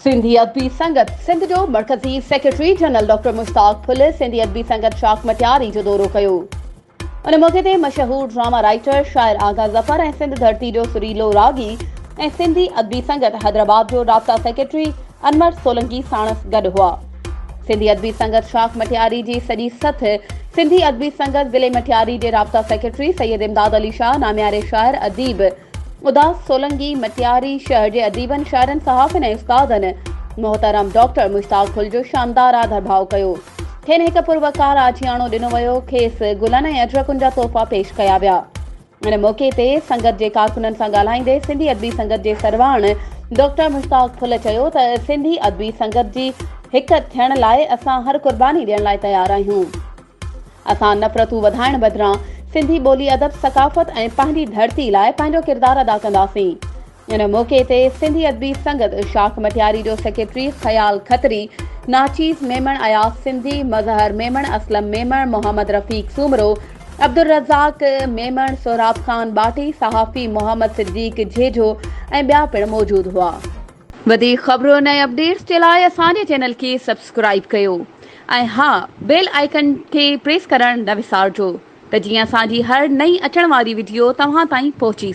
سنڌي ادبي سنگت سنڌ جو مرڪزي secretary general doctor Mushtaq Phul Sindhi Adabi سنگت شاخ مٽياري جو دورو ڪيو ان موقعي تي مشهور ڊراما رائٽر شاعر آغا ظفر ۽ سنڌ ڌرتي جو سريلو راڳي ۽ سنڌي ادبي سنگت حيدرآباد جو رابطا سيڪريٽري انور سولنگي ساڻس گڏ هئا سنڌي ادبي سنگت شاخ مٺياري جي سڄي سٿ سنڌي ادبي سنگت ضلعي مٺياري جي رابطا سيڪريٽري سيد امداد علي شاهه نامياري شاعر اديب اداس سولنگي مٽياري شهر جي اديبن شاعرن صحافين ۽ استادن محترم ڊاڪٽر مشتاق ڦل جو شاندار آڌر ڀاء ڪيو کين هڪ پروقار آجياڻو ڏنو ويو کيس گلن ۽ اجرڪن جا تحفا پيش ڪيا ويا ان موقعي تي سنگت جي ڪارڪنن سان ڳالهائيندي سنڌي ادبي سنگت جي سرواڻ ڊاڪٽر مشتاق ڦل چيو ته سنڌي ادبي سنگت جي هڪ ٿيڻ لاء اسان هر قرباني ڏيڻ لاء تيار آهيون اسان نفرتون وڌائڻ بدران سنڌي ٻولي ادب ثقافت ۽ پنهنجي ڌرتي لاء پنهنجو ڪردار ادا ڪنداسين ان موقعي تي سنڌي ادبي سنگت شاخ مٽياري جو سيڪريٽري خيال کتري، ناچيز ميمڻ، اياز سنڌي، مظهر ميمڻ، اسلم ميمڻ، محمد رفيق سومرو، عبدالرزاق ميمڻ، سهراب خان ٻاٽي، صحافي محمد صديق جهيجهو ۽ ٻيا پڻ موجود هئا. وڌيڪ خبرون ۽ اپڊيٽس جي لاء اسان جي چينل کي سبسڪرائيب ڪيو ۽ ها بيل آئيڪن کي پريس ڪرڻ نه وسارجو ته جيئن اسان جي هر نئين اچڻ واري وڊيو توهان تائين پهچي سگهي.